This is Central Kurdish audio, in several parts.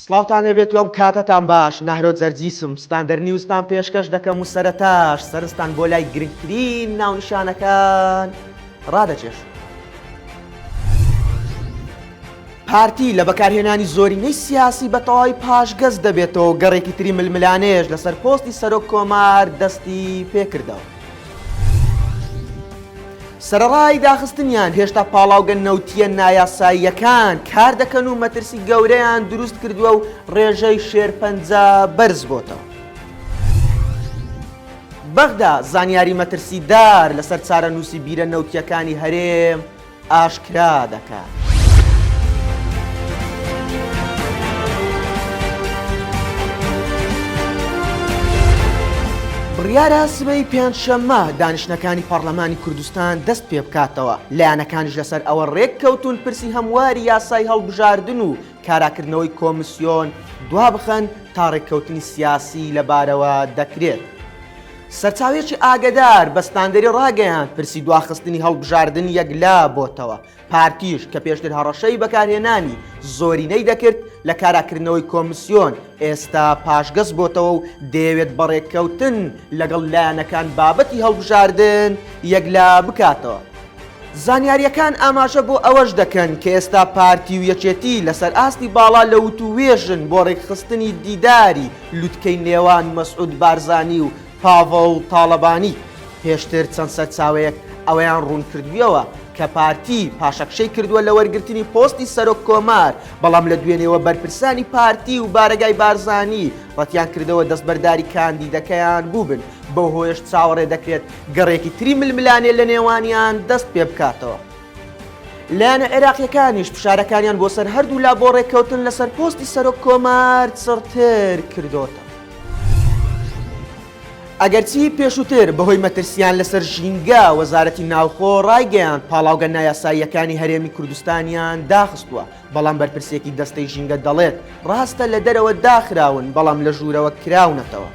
سڵاوتان لێ بێت و ئەم کاتەتان باش، نەهرۆ جەرجیسم، ستاندەر نیوزتان پێشکەش دەکەم و سەرەتاش سەرنجتان بۆ لای گرنگترین ناونیشانەکان ڕادەکێشم. پارتی لە بەکارهێنانی زۆرینەی سیاسی بە تەواوی پاشگەز دەبێتەوە و گەڕێکی تری ململانێیش لەسەر پۆستی سەرۆک کۆمار دەستی پێکردەوە. سەرەڕای داخستنیان، هێشتا پاڵاوگە نەوتییە نایاساییەکان کاردەکەن و مەترسی گەورەیان دروست کردووە و ڕێژەی شێرپەنجە بەرزبۆتەوە. بەغدا زانیاری مەترسیدار لەسەر چارەنووسی بیرە نەوتییەکانی هەرێم ئاشکرا دەکات. بڕیارە سبەی پێنجشەممە دانیشتنەکانی پەڕلەمانی کوردستان دەست پێ بکاتەوە، لایەنەکانیش لەسەر ئەوە رێک کەوتوون پرسی هەمواری یاسای هەڵبژاردن و کاراکردنەوەی کۆمسیۆن دوابخەن تا رێککەوتنی سیاسی لەبارەوە دەکرێت. سەرچاوەیەکی ئاگەدار بە ستاندەری ڕاگەیاند، پرسی دواخستنی هەڵبژاردن یەکلا بۆتەوە، پارتیش کە پێشتر هەڕەشەی بەکارهێنانی زۆرینەی دەکرد لە کاراکردنەوەی کۆمسیۆن، ئێستا پاشگەز بۆتەوە و دەیەوێت بە ڕێککەوتن لەگەڵ لایەنەکان بابەتی هەڵبژاردن یەکلا بکاتەوە. زانیارییەکان ئاماژە بۆ ئەوەش دەکەن کە ئێستا پارتی و یەکێتی لەسەر ئاستی باڵا لە وتووێژن بۆ ڕێکخستنی دیداری لوتکەی نێوان مەسعود بارزانی و پاڤڵ تاڵەبانی، پێشتر چەند سەرچاوەیەک ئەوەیان ڕوونکردویەوە کە پارتی پاشەکشەی کردوە لە وەرگرتنی پۆستی سەرۆک کۆمار، بەڵام لە دوێنێوە بەرپرسانی پارتی و بارەگای بارزانی ڕەتیان کردەوە دەستبەرداری کاندیدەکەیان بوبن، بەوهۆیەش چاوەڕێ دەکرێت گەڕێکی تری ململانێ لەنێوانیان دەست پێبکاتەوە. لایەنە عێراقییەکانیش فشارەکانیان بۆ سەر هەردوو لا بۆ ڕێککەوتن لەسەر پۆستی سەرۆک کۆمار چڕتر کردۆتەوە. ئەگەرچی پێشووتر بەهۆی مەترسییان لەسەر ژینگە، وەزارەتی ناوخۆ ڕایگەیاند پاڵاوگە نایاساییەکانی هەرێمی کوردستانیان داخستووە، بەڵام بەرپرسێکی دەستەی ژینگە دەڵێت ڕاستە لە دەرەوە داخراون بەڵام لە ژوورەوە کراونەتەوە.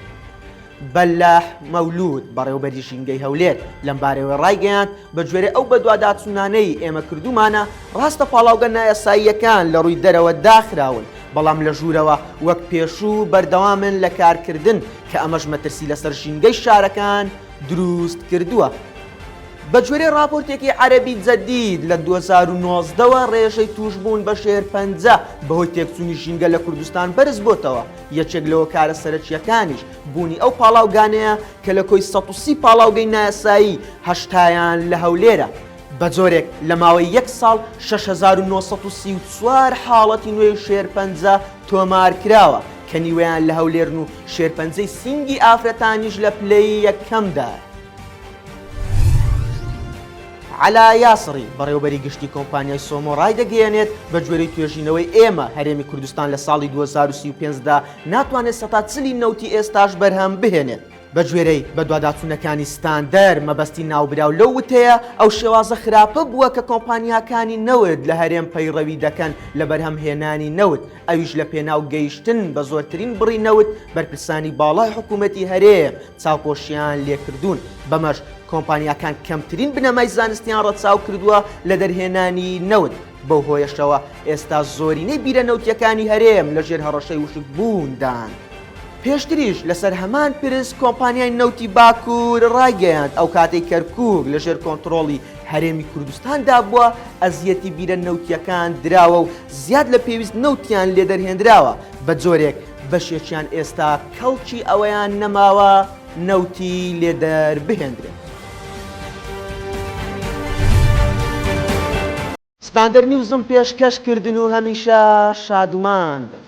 بەلاح مەولوود، بەڕێوبەری ژینگەی هەولێر لەمبارەوەی ڕایگەیاند، بەگوێرەی ئەو بەدواداچوونانەی ئێمە کردوومانە، ڕاستە پاڵاوگە نایاساییەکان لە ڕووی دەرەوە داخراون، بەڵام لە ژوورەوە وەک پێشوو بەردەوامن لە کارکردن کە ئەمەش مەترسی لەسەر ژینگەی شارەکان دروست کردووە. بەگوێرەی ڕاپۆرتێکی عەرەبی جەدید، لە دوو هەزار و نۆزدە وە ڕێژەی تووشبوون بە شێرپەنجە بەهۆی تێکچوونی ژینگە لە کوردستان بەرزبۆتەوە، یەکێک لە هۆکارە سەرەکییەکانیش بوونی ئەو پاڵاوگانەیە کە لە کۆی سەد و سی پاڵاوگەی نایاسایی هەشتایان لە هەولێرە، بە جۆرێک لە ماوەی یەک ساڵ شەش هەزار و نۆ سەد و سی و چوار حاڵەتی نوێی شێرپەنجە تۆمار کراوە کە نیوەیان لە هەولێرن و شێرپەنجەی سینگی ئافرەتانیش لە پلەی یەکەمدایە. عەلا یاسڕی، بەڕێوەبەری گشتی کۆمپانیای سۆمۆ ڕایدەگەیەنێت، بەگوێرەی توێژینەوەی ئێمە، هەرێمی کوردستان لە ساڵی دوو هەزار و سی و پێنج دا ناتوانێت سەتا چل ی نەوتی ئێستاش بەرهەم بهێنێت. بەگوێرەی بەدواداچوونەکانی ستاندەر، مەبەستی ناوبراو لەو وتەیە، ئەو شێوازە خراپە بووە کە کۆمپانیاکانی نەوت لە هەرێم پەیڕەوی دەکەن لە بەرهەمهێنانی نەوت، ئەویش لە پێناو گەیشتن بە زۆرترین بڕی نەوت، بەرپرسانی باڵای حکوومەتی هەرێم چاوپۆشییان لێکردوون، بەمەش کۆمپانیاکان کەمترین بنەمای زانستیان ڕەچاو کردووە لە دەرهێنانی نەوت، بەو هۆیەشەوە ئێستا زۆرینەی بیرە نەوتییەکانی هەرێم لە ژێر هەڕەشەی وشکبووندان. پێشتریش لەسەر هەمان پرس کۆمپانیای نەوتی باکوور ڕایگەیاند، ئەو کاتەی کەرکووک لە ژێر کۆنتڕۆڵی هەرێمی کوردستاندا بووە، ئەزیەتی بیرە نەوتییەکان دراوە و زیاد لە پێویست نەوتیان لێ دەرهێندراوە، بە جۆرێک بەشێکیان ئێستا کەڵکی ئەوەیان نەماوە، نەوتی لێ دەربهێندرێت. ستاندەر نیوزم پێش کەش کردن و هەمیشە شادومان بن.